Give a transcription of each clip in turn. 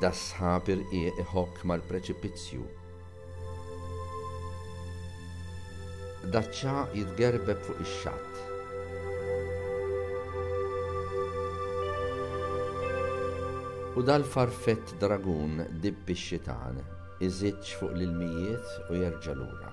Das-sħab irqieq iħokk mal-preċipizzju. Daċ-ċagħaq jitgerbeb fuq ix-xatt. U dal-farfett dragun dibb ix-xitan iżidx fuq l-ilmijiet u jerġa' lura.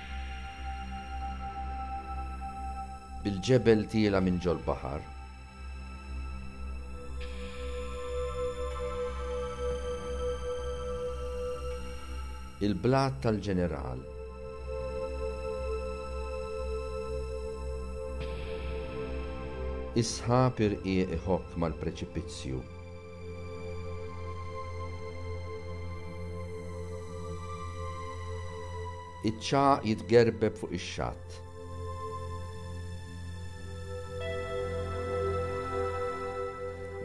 Bil-ġebel tiela' minn ġol-baħar. Il-blat tal-ġeneral. Is-sħab irqiq iħokk mal-preċipizzju. Iċ-ċagħaq jitgerbeb fuq ix-xatt.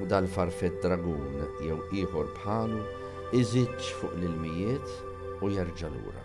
U dal-farfett dragun jew ieħor bħalu iżidx fuq l-ilmijiet u jerġa' lura.